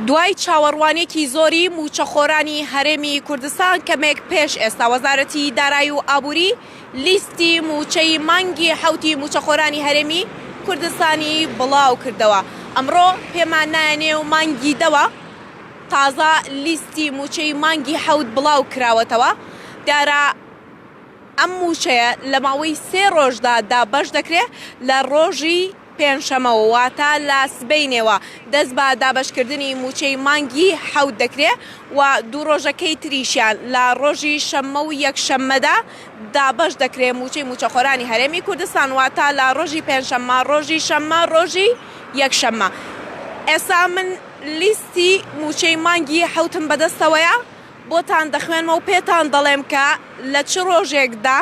دوای چاوەڕوانێکی زۆری مووچەخۆرانی هەرێمی کوردستان کەمێک پێش ئێستا وەزارەتی دارایی و ئابووری لیستی مووچەی مانگی حوتی مووچەخۆرانی هەرێمی کوردستانی بڵاو کردەوە ئەمڕۆ پێمان نایەنێ و مانگی دەوە تازە لیستی مووچەی مانگی حەوت بڵاو کراوەتەوە دیارە ئەم مووچەیە لە ماوەی سێ ڕۆژدا دابەش دەکرێت لە ڕۆژی پێنجشەمەوە واتە لە سبەینێوە دەست بە دابەشکردنی مووچەی مانگی حەوت دەکرێت و دوو ڕۆژەکەی تریشیان لە ڕۆژی شەممە و یەکشەممەدا دابەش دەکرێت مووچەی مووچەخۆرانی هەرێمی کوردستان واتە لە ڕۆژی پێنجشەممە ڕۆژی شەممە ڕۆژی یەکشەممە ئێستا من لیستی مووچەی مانگی حەوتم بەدەستەوەیە بۆتان دەخوێنمەوە پێتان دەڵێم کە لە چ ڕۆژێکدا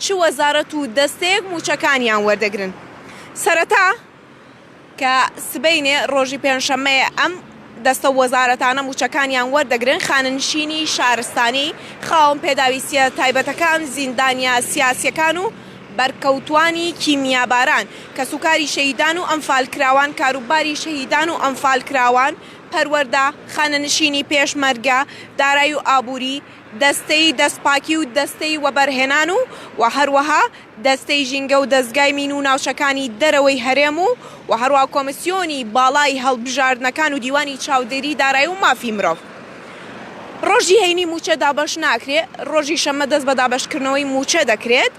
چ وەزارەت و دەستەیەک مووچەکانیان وەردەگرن سەرەتا کە سبەینێ ڕۆژی پێنجشەممەیە ئەم دەستە وەزارەتانە مووچەکانیان وەردەگرن خانەنشینی شارستانی خاوەن پێداویستیە تایبەتەکان زیندانیە سیاسیەکان و بەرکەوتوانی کیمیاباران کەسوکاری شەهیدان و ئەنفالکراوان کاروباری شەهیدان و ئەنفالکراوان پەروەردە، خانەنشینی پێشمەرگە، دارایی و ئابووری، دەستەی دەستپاکی و دەستەی وەبەرهێنان و و هەروەها دەستەی ژینگە و دەزگای مین و ناوچەکانی دەرەوەی هەرێم و و هەروەها کۆمیسیۆنی باڵای هەڵبژاردنەکان و دیوانی چاودێری دارایی و مافی مرۆڤ. ڕۆژی هەینی مووچە دابەش ناکرێت، ڕۆژی شەممە دەست بە دابەشکردنەوەی مووچە دەکرێت.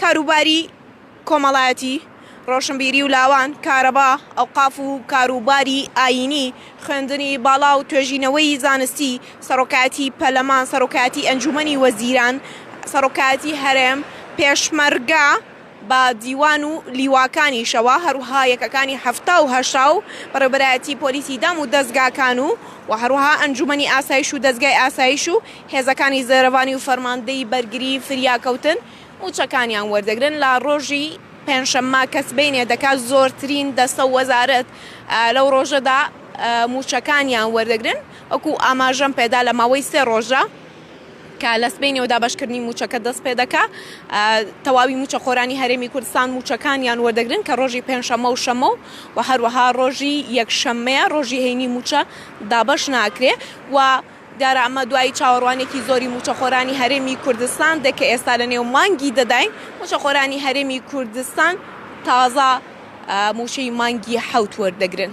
کاروباری کۆمەڵایەتی، ڕۆشنبیری و لاوان، کارەبا، ئەوقاف و کاروباری ئایینی، خوێندنی باڵا و توێژینەوەی زانستی، سەرۆکایەتی پەرلەمان، سەرۆکایەتی ئەنجوومەنی وەزیران، سەرۆکایەتی هەرێم، پێشمەرگە بە دیوان و لیواکانیشەوە، هەروەها یەکەکانی حەفتا و هەشتا و بەڕێوەبەرایەتی پۆلیسی دام و دەزگاکان و و هەروەها ئەنجوومەنی ئاسایش و دەزگای ئاسایش و هێزەکانی زێرەڤانی و فەرماندەی بەرگری فریاکەوتن موچەکانیان وەردەگرن لە ڕۆژی پێنجشەممە کە سبەینێ دەکات زۆرترین دەستە و وەزارەت لەو ڕۆژەدا موچەکانیان وەردەگرن وەکو ئاماژەم پێدا لە ماوەی سێ ڕۆژە کە لە سبەینێوە دابەشکردنی موچەکە دەست پێدەکا تەواوی موچەخۆرانی هەرێمی کوردستان موچەکانیان وەردەگرن کە ڕۆژی پێنجشەممە و شەممە و هەروەها ڕۆژی یەکشەممەیە ڕۆژی هەینی موچە دابەش ناکرێ و دیارە ئەمە دوای چاوەڕوانێکی زۆری مووچەخۆرانی هەرێمی کوردستان دێت کە ئێستا لە نێو مانگی دەداین، مووچەخۆرانی هەرێمی کوردستان تازە مووچەی مانگی حەوت وەردەگرن.